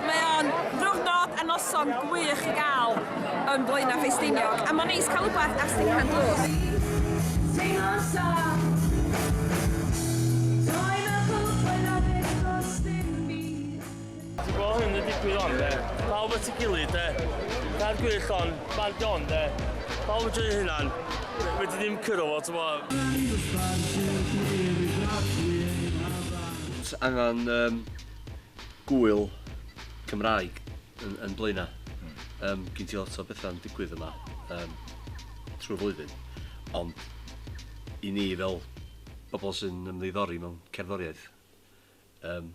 Mae o'n ddiwrnod a noson gwych i gael yn Blaenau Ffestiniog a mae'n neis cael rhywbeth ar Stinghan Drws. Teimlo'n saff Ti bo hyn yn digwydd on de? Pawb at y gilydd de? Cair gwych on, bandio on de? Pawb yn joio hynna'n, wedi ddim cyrro fo, ti bo? Ti angen um, gwyl Cymraeg yn, yn blaenau. Mm. Um, gyn ti lot o bethau'n digwydd yma um, trwy flwyddyn. Ond i ni fel bobl sy'n ymddiddori mewn cerddoriaeth, um,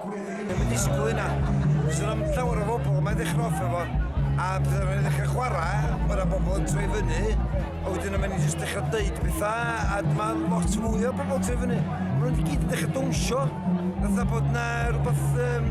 Ddim yn disgwyl hynna. Os yna llawer o bobl mae'n ddechrau off efo, a pethau rhaid ddechrau chwarae, mae yna bobl yn troi fyny, a wedyn yma ni jyst dechrau dweud pethau, a mae lot fwy o bobl yn troi fyny. Mae nhw'n gyd yn dechrau dawnsio, fatha bod yna rhywbeth... Um,